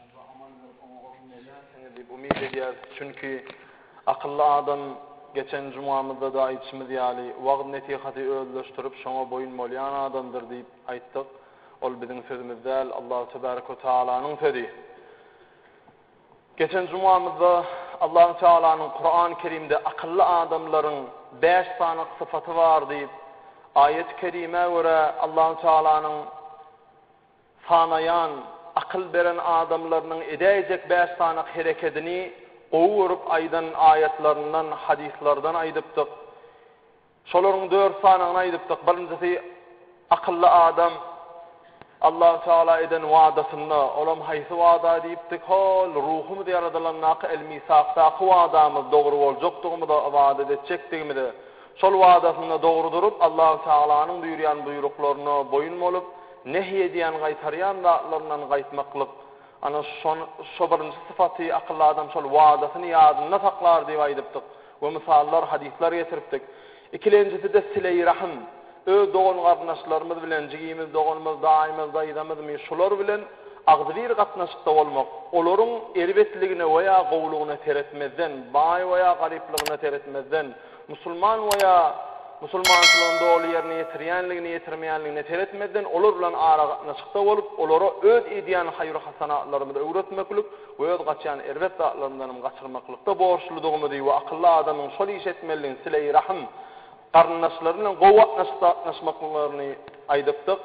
Onda amandyr, oňa goşun berýänsiňiz diýip umyt edýäris. Çünki, akylly adam, geçen jumamyzda-da aýdyşymyz ýaly, wagyz-nesihaty özleşdirip, şoňa boýun bolýan adamdyr diýip aýtdyk. Ol biziň sözümiz däl, Allahu tebärik we tagalanyň sözi. Geçen jumamyzda Allahu tagalanyň Kurany kerimde akylly adamlaryň bäş sany sypaty bar diýip, aýaty kerimä görä Allahu tagalanyň, Sanaýan, akyl beren adamlarynyň edäýjek bäş sanak herekedini gowy görüp aýdan aýatlaryndan, hadyslardan aýdypdyk. Şolaryň dört sanagyny aýdypdyk. Birinjisi, akylly adam Allahu tagala eden wadasynda, olam haýsy wada diýipdik, hol, ruhumyz ýaradylandaky el-misakdaky wadamyz dogry boljakdygymyza, ybadat etjekdigimize, Şol wadasynda dogry durup, Allahu Tagalanyň buýurýan buýruklaryna boýun bolup, nehy edýän, gaýtarýan zatlaryndan gaýtmaklyk. Ana, şon, şo birinji sypaty, akylly adam şol wadasyny ýadynda saklar diýip aýdypdyk we mysallar, hadyslar getiripdik. Ikilenjisi-de sile-i rahym. Öz dogan-garyndaşlarymyz bilen, jigimiz, doganymyz, daýymyz, daýzamyzmy, şular bilen agzybir gatnaşykda bolmak, olaryň erbetligine we ýa gowulygyna seretmezden, baý we ýa garyplygyna seretmezden, Musulman we ýa musulmançylygyny doly ýerine ýetirýänligine ýetirmeýänligine seretmezden olar bilen aragatnaşykda bolup olara öz edýän haýyr hasanatlarymyzy öwretmeklik we öz gaçýan erbet zatlarymyzdan hem gaçyrmaklykda borçludygymyzy we akylly adamyň şol işi etmelidigini sile-i rahym garyndaşlary bilen gowy gatnaşyk sagatnaşmaklyklaryny aýdypdyk.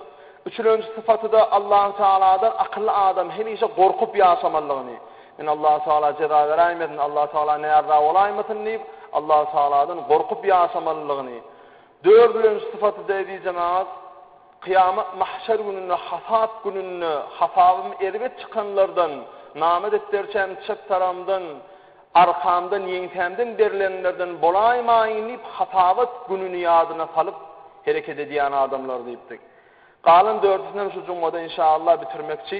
Üçülenji sypatyda Allahu tagaladan akylly adam hemişe gorkup ýaşamalydygyny, Men Allahu tagala jeza beräýmesin, Allahu tagala näraza bolaýmasyn diýip, Allahu tagaladan gorkup ýaşamalydygyny, dördülenji sypaty-da eziz jemagat, kyýamat mahşer gününde, hasap gününde, hasabym erbet çykanlardan, nama depderçäm çep tarabymdan, arkamdan, ýeňsämden berlenlerden bolaýmaýyn diýip, hasabat gününi ýadyna salyp hereket edýän adamlar diýipdik. Galan dördüsinem şu jumada inşaallah bitirmekçi.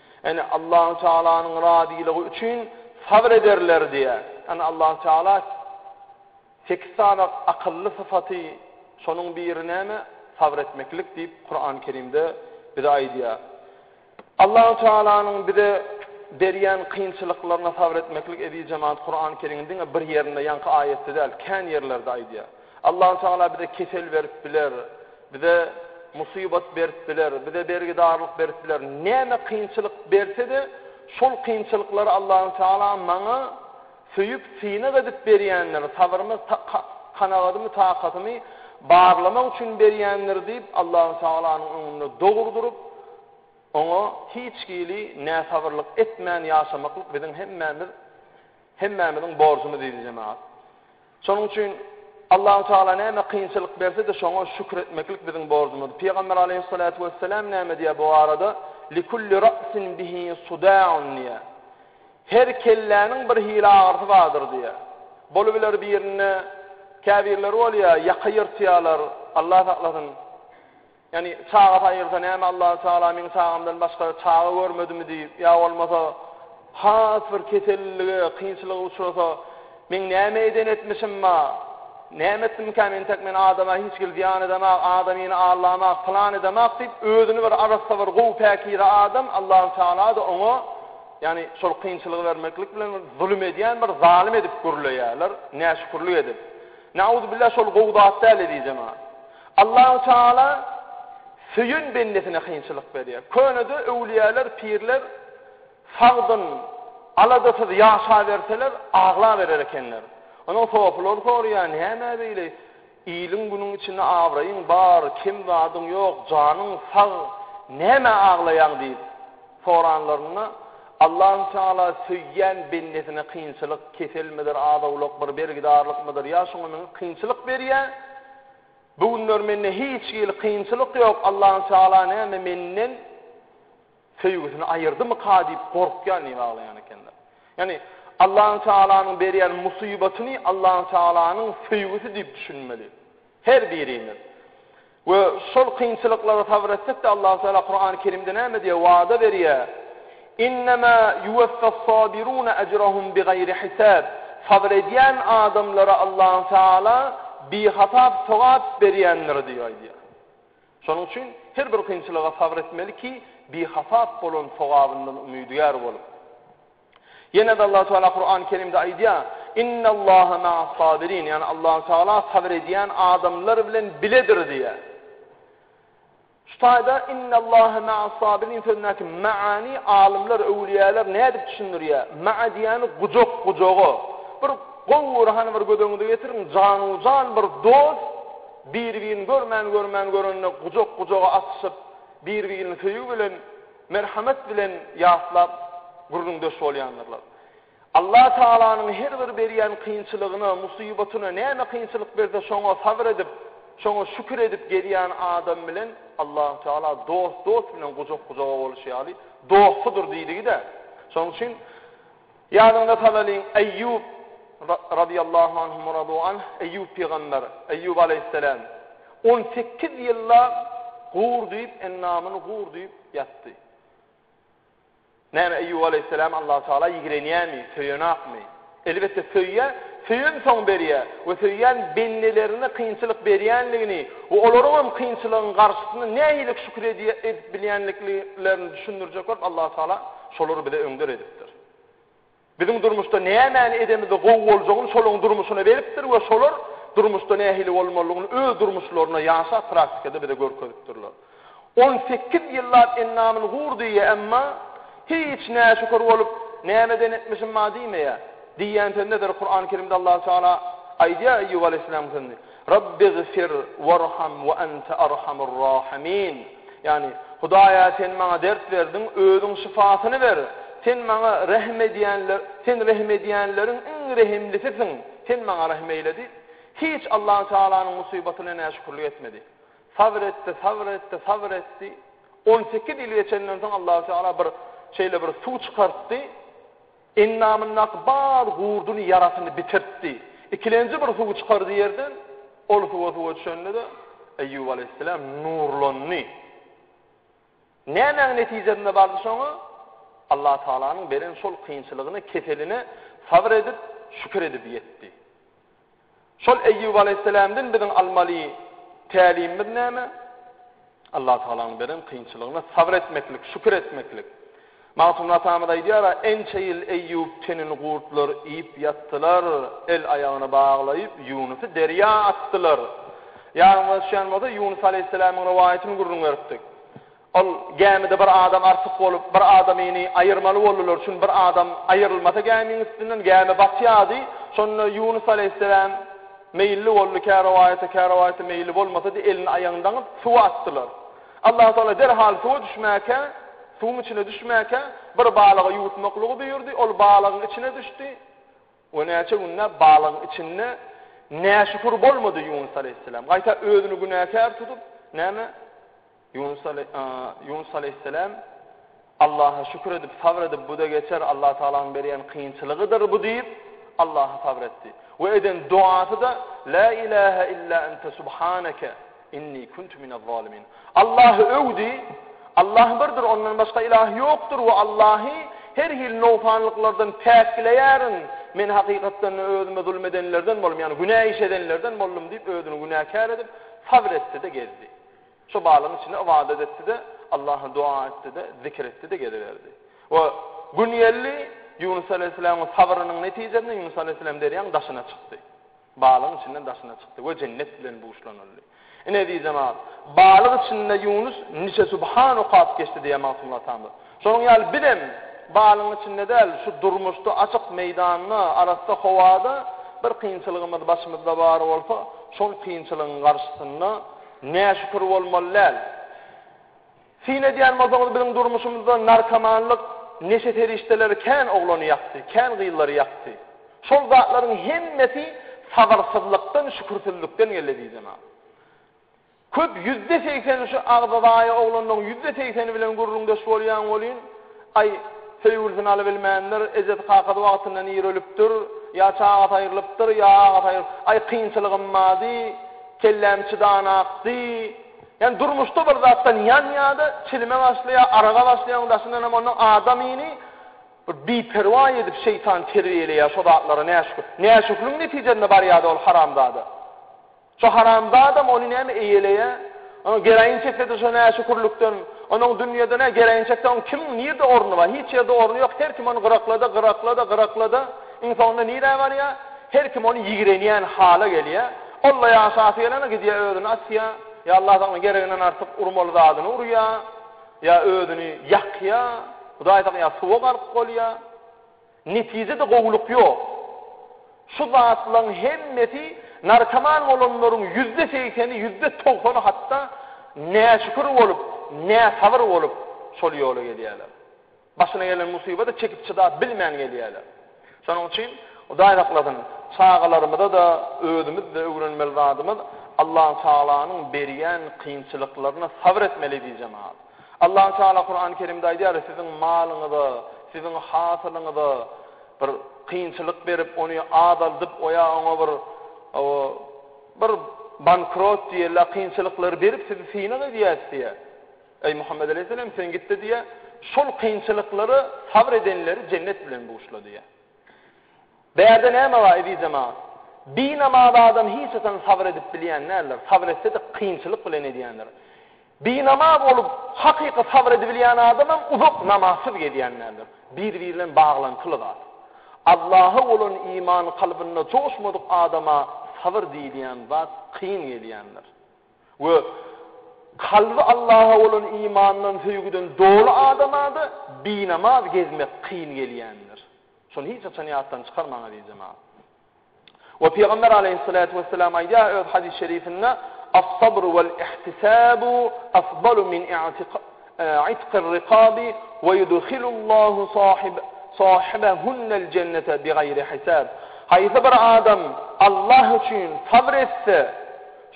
Ene, Allahü Tealanyň razylygy üçin sabr ederler diýýär. Ene, Allahü Teala sekiz sany akylly syfaty, şonuň biri näme? Sabr etmeklik diýip, Kurany Kerimde bize aýdýar. Allahü Tealanyň bize berýän kynçylyklaryna sabr etmeklik, eziz jemaat, Kurany Kerimiň diňe bir ýerinde, ýaňky aýatda däl, kän ýerlerde aýdýar. Allahu tagala bize kesel berip biler, bize musybat berip biler, bize bergidarlyk berip biler, näme kynçylyk bersede şol kynçylyklary Allahu tagala maňa söýüp synag edip berýändir, sabyrmy kanagatymy takatymy barlamak üçin berýändir diýip Allahu tagalanyň öňünde dogry durup oňa hiç hili näsabyrlyk etmän ýaşamaklyk biziň hemmämiz hemmämiziň borjumyz diýdi jemagat. Şonuň üçin Allahu tagala näme kynçylyk berse-de şoňa şükür etmeklik biziň borjumyz. Pygamber aleýhyssalatu wessalam näme diýýär bu barada? Likulli ra'sin bihi suda'un diýýär. Her kelläniň bir hili agyrysy bardyr diýýär. Bolubiler birinde käbirleri bolýar, ýaka ýyrtýarlar, Allah saklasyn. Ýagny çagasy aýrylsa näme Allahu Tagala meň çagamdan başga çaga görmedimi diýip ýa bolmasa has bir kesellige, kynçylyga uçrasa meň näme eden etmişim ba, näme etdimkä men täk men adama hiç hili zyýan edemok, adamyny allamok, pylan edemok diýip özüni bir arassa bir gowy päkize adam Allahu Tagalada oňa ýagny şol kynçylygy bermeklik bilen bir zulum edýän bir zalym edip gürleýärler näşükürlik edip. Na'uzubillah şol gowy zat däl ezizem. Allahu Teala söýen bendesine kynçylyk berýär. Könede öwlüýäler, pirler sagdyn, aladasyz ýaşaberseler, aglaberer ekenler. Onuň sopulary soraýar, Nämä beýle? Iliň-günüň içinde abraýyň bar, kem zadyň ýok, janyň sag, nämä aglaýaň? diýip soranlarynda, Allahu Teala söýýän bendesine kynçylyk, keselmidir, az-owlakdyr, bergidarlykmydyr, ýa şoňa meňzeş kynçylyk berýär. Bu günler mende hiç hili kynçylyk ýok, Allahu Teala näme menden söýgüsini aýyrdymyka diýip gorkýan diýip aglaýan ekenler. Ýagny Allahu Tealanyň berýän musybatyny Allahu Tealanyň söýgüsi diýip düşünmeli her birimiz. We şol kynçylyklara sabyr etsek-de Allahu Teala Kurany Kerimde näme diýýär, wada berýär. Innema yuweffas-sabiruna ejrahum bigaýri hisab, Sabyr edýän adamlara Allahu Teala bihasap sogap berýändir diýip aýdýar. Şonuň üçin her bir kynçylyga sabyr etmeli ki, bihasap bolan sogabyndan umydygär bolup. Ýene-de Allahu Teala Kurany Kerimde aýdýar, Innallaha ma'as-sabirin, ýagny Allahu Teala sabyr edýän adamlar bilen biledir diýýär. Şu taýda Innallaha ma'as-sabirin sözündäki ma'any alymlar, öwlüýäler nädip düşündirýär? Ma'a diýýäni gujak, gujaga. Bir gowy bir hany bir göz öňüňize getiriň, janu-jan bir dost bir-birini görmän-görmän görende gujak, gujaga atyşyp, bir-birini söýgi bilen, merhamet bilen ýatlap gürrüňdeş bolýandyrlar. Allah Tagalanyň her bir berýän kynçylygyna, musybatyna näme kynçylyk berse şoňa sabyr edip, şoňa şükür edip gezýän adam bilen Allah Tagala dost dost bilen gujak gujaga boluşy ýaly dostudyr diýdigi-de. Şonuň üçin ýadyňyza salalyň Eýýup Ra Radyýallahu anhum we radu anh Eýýup pygamber, Eýýup aleýhisselam on sekiz ýyllap gur diýip endamyny gur diýip ýatdy. Näme, Eýýup aleýhissalamy Allahu tagala ýigrenýärmi, söýenokmy? Elbetde söýýär, söýensoň berýär we söýýän bendelerine kynçylyk berýänligini we olaryň hem kynçylygyň garşysyna nähili şükür edip bilýänliklerini düşündirjek bolup Allahu tagala şolary bize öňder edipdir. Biziň durmuşda nämäni edemizde gowy boljagyny şolaryň durmuşyna beripdir we şolar durmuşda nähili bolmalydygyny öz durmuşlarynda ýaşap praktikada bize görkezipdirler. On sekiz ýyllap endamyny gur diýýä emma hiç näşükür bolup nämeden etmişim bar diýmeýä. Diýýän söznederi Kurany Kerimde Allahu Teala aýdýa Eýýup Aleýhisselam sözni. Rabbigfir warham we ente arhamur rahimin, ýagny, Hudaýa Sen maňa dert berdiň, Özüň şypasyny ber! Sen maňa rehim edýänler, Sen rehim edýänleriň iň rehimlisisiň, Sen maňa rehim eýle diýip, hiç Allahu Tagalanyň musybatyna näşükürlik etmedi. Sabr etdi, sabr etdi, sabr etdi. On sekiz ýyl geçenden soň Allahu Tagala bir şeýle bir suw çykartdy. Endamyndaky bar gurduny, ýarasyny bitirtdi. Ikilenji bir suw çykardy ýerden. Ol suwa suwa düşende-de, Eýýup alaýhyssalam nurlandy. Nämäň netijesinde bardy şoňa? Allatagalaň beren şol kynçylygyna, keseline sabyr edip, şükür edip ýetdi. Şol Eýýup alaýhyssalamdan biziň almaly tälimimiz näme? Allatagalanyň beren kynçylygyna sabr etmeklik, şükür etmeklik. Magtymguly atamyz aýdýar-a, Ençe ýyl Eýýup tenini gurtlar iýip ýatdylar, el-aýagyny baglaýyp, Ýunusy derýa atdylar. Ýadyňyza düşýän bolsa, Ýunus alaýhyssalamyň rowaýatyny gürrüň beripdik. Ol gämide bir adam artyk bolup, bir adamyny aýyrmaly boldular, çün bir adam aýyrylmasa gämiň üstünden, gämi batýardy. Şonda Ýunus aleýhisselam meýilli boldy, kä rowaýata, kä rowaýata meýilli bolmasa-da, elini aýagyny daňyp, suwa atdylar. Allahu tagala derhal suwa düşmäkä, suwuň içine düşmäkä, bir balygy ýuwutmaklygy buýurdy, ol balygyň içine düşdi. O näçe günläp balygyň içinde näşükür bolmady Ýunus aleýhisselam. Gaýta özüni günäkär tutup, näme? Ýunus ale, a, Ýunus aleýhisselam Allaha şükür edip, sabr edip, bu-da geçer, Allah Tagalanyň berýän kynçylygydyr bu diýip, Allaha sabr etdi. We eden duasy-da, La ilahe illa ente subhaneke, Inni kuntu minel zalimin. Allahy öwdi, Allah birdir, ondan başga ilah ýokdur we Allahy her hili nogsanlyklardan päkleýärin, men hakykatdan-da özüme zulum edenlerden boldum, ýagny günä iş edenlerden boldum diýip, özüni günäkär edip, sabr etdi-de gezdi. Şo balygyň içinde ybadat etdi-de, Allaha doga etdi-de, zikir etdi-de geziberdi. We gün geldi, Ýunus alaýhyssalamyň sabrynyň netijesinde Ýunus alaýhyssalam derýaň daşyna çykdy. Balygyň içinden daşyna çykdy we jennet bilen buşlanyldy. Ine, eziz jemagat, balyk içinde Ýunus niçe subhan okap geçdi diýýär Magtymguly atamyz. Şonuň ýaly bizem balygyň içinde däl, şu durmuşda açyk meýdanda, arassa howada bir kynçylygymyz başymyzda bar bolsa, şol kynçylygyň garşysynda näşükür bolmaly däl. Syn edýän bolsaňyz biziň durmuşymyzda narkomanlyk, neşe serişdeleri kän oglany ýakdy, kän gyzlary ýakdy. Şol zatlaryň hemmesi sabyrsyzlykdan, şükürsizlikden geldi diýsemem. Köp ýüzde segseni şu agzazaýa oglanlaryň ýüzde segseni bilen gürrüňdeş bolýaň welin, aý, söýgülisini alybilmändir, ejesi-kakasy wagtyndan ir ölüpdir, ýa çagasy aýrylypdyr, ýa agasy aýrylyp, aý, kynçylygym bardy, kelläm çydanakdy, Ýagny durmuşda bir zatdan ýanýada, çilime başlaýa, araga başlaýaň daşyndanam ondan adamyny bir biperwa edip şeýtan terbiýeleýä şo zatlara näşükür. Näşükligiň netijesinde barýada ol haramzada. Şo haramzadam ony näme eýeleýä. Onuň geroin çekdedi şo näşükürlikden. Onuň dünýede nä geroin çekdi oň kim nirde orny bar hiç ýerde orny ýok her kim ony gyraklada gyraklada gyraklada iň soňunda nirä barýa her kim ony ýigrenýän hala gelýä. Alla ýaşasy gelene gidýä özüni atýa, ýa Alla sagna gereginden artyk urmaly zadyny urýa, ýa özüni ýakýa, Hudaý sagna suwa gark bolýa. Netijede gowulyk ýok. Şu zatlaň hemmesi narkoman bolanlaryň ýüzde segseni, ýüzde togsany hatda näşükür bolup, näsabyr bolup şol ýola gelýäler. Başyna gelen musybada çekip-çydap bilmän gelýärler. Şonuň üçin, Hudaý saklasyn, çagalarymyza-da, özümiz-de öwrenmeli zadymyz, Allatagalaňyň berýän kynçylyklaryna sabyr etmeli diý jemagat. Allatagala Kurany Kerimde aýdýar, Siziň malyňyza, siziň hasylyňyza bir kynçylyk berip, ony azaldyp, o ýa oňa bir o bir bankrot diýeli kynçylyklary berip sizi synag edýäs diýýär. Eý, Muhammet aleýhisselam, sen git-de diýýär, Şol kynçylyklara sabr edenleri jennet bilen buşla diýýär. Bärde näme bar, eziz jemagat? Binamaz adam hiç haçan sabr edip bilýän däldir, sabr etse-de kynçylyk bilen edýändir. Binamaz bolup, hakyky sabr edibilýän adam hem uzak namazsyz gezýän däldir. Bir-biri bilen baglantyly zat. Allaha bolan iman kalbynda joşmadyk adama sabr diýilýän zat kyn gelýändir. We kalby Allaha bolan imandan, söýgüden doly adama-da binamaz gezmek kyn gelýändir. Şony hiç haçan ýatdan çykarmaň, eziz jemagat. We Pygamber aleýhissalatu wessalam aýdýar öz hadys şerifinde, As-sabru wal ihtisabu afdalu min i'tiqir riqabi we yudhilullahu sahib sahibahunal jennete bigaýri hisab. Haýsy bir adam Allah üçin sabr etse,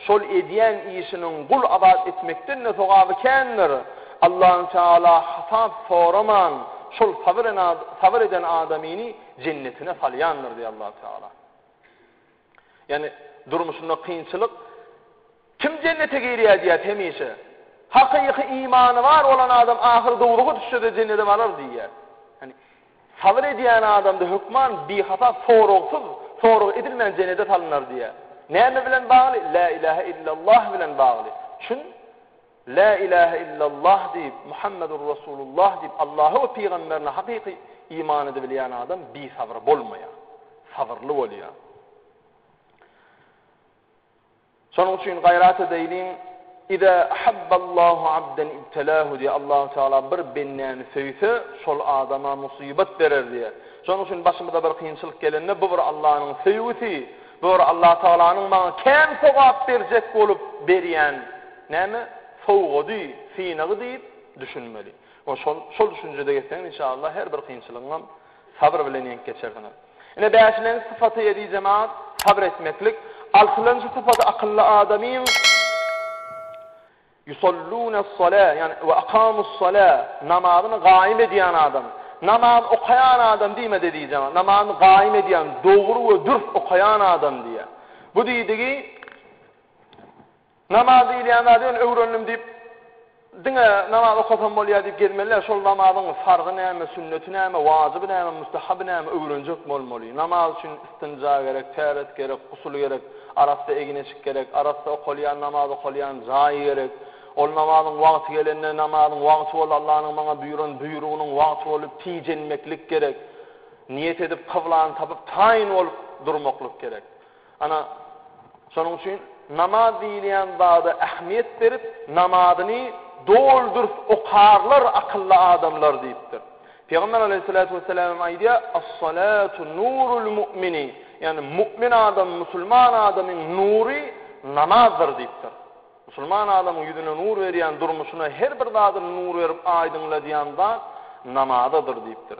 Şol edýän işiniň gul azat etmekden-de sogaby kändir. Allahü Teala hasap soraman şol sabyr eden adamyny jennetine salýandyr diýýär Allahü Teala. Ýagny durmuşynda kynçylyk Kim jennete girýär diýýär hemişe. Hakyky imany bar bolan adam ahyr dowruga düşse-de jennete barar diýýär. Sabyr edýän adamda hökman bihasap soragsyz, sorag edilmän jenede salynar diýýär. Näme bilen bagly? Lä ilähe illallah bilen bagly. Çün Lä ilähe illallah diýip, Muhammedur Resulullah diýip, Allaha we pygamberine hakyky iman edibilýän adam bisabyr bolmaýar. Sabyrly bolýar. Şonuň üçin gaýrat edeýliň, Iza ahabballahu abden ibtelahu diýýär, Allahu Tagala bir bendäni söýse, şol adama musybat berer diýýär. Şonuň üçin başymyza bir kynçylyk gelende, bu bir Allanyň söýgüsi, bu bir Allahu Tagalanyň maňa kän sogap berjek bolup berýän näme, sowgady, synagy diýip düşünmeli. Şol şol düşünjede gezseň, inşaallah her bir kynçylygyňam, Sabyr bilen ýeňip geçersiňiz. Ine, bäşilenji sypaty edi jemagat, sabyr etmeklik. Altynjy sypaty akylly adamyň, Ýusallunas-sala, ýagny we akamus-sala, namazyny gaýym edýän adam. Namaz okaýan adam diýmedi edi jemagat. Namazyny gaýym edýän, dogry we dürs okaýan adam diýýär. Bu diýdigi, Namaz diýilýän zady men öwrendim diýip, diňe namaz okasam bolýar diýip gezmeli däl. Şol namazyň farzy näme, sünneti näme, wajyby näme, mustahaby näme öwrenjek bolmaly. Namaz üçin istinja gerek, täret gerek, gusul gerek, arassa egineçik gerek, arassa okalýan namaz okalýan jaýy gerek. Ol namazyň wagty gelende, namazyň wagty boldy, Allanyň maňa buýran buýrugynyň wagty boldy, tijenmeklik gerek. Niýet edip, kyblany tapyp, taýyn bolup durmaklyk gerek. Ana, şonuň üçin namaz diýilýän zada ähmiýet berip, namazyny doly-dürs okarlar akylly adamlar diýipdir. Pygamber aleýhissalatu wessalamym aýdýar, As-salatu nurul mu'mini, ýagny mu'min adam, musulman adamyň nury namazdyr diýipdir. Musulman adamyň ýüzüne nur berýän, durmuşyna her bir zadyna nur berip aýdyňladýan zat namazadyr diýipdir.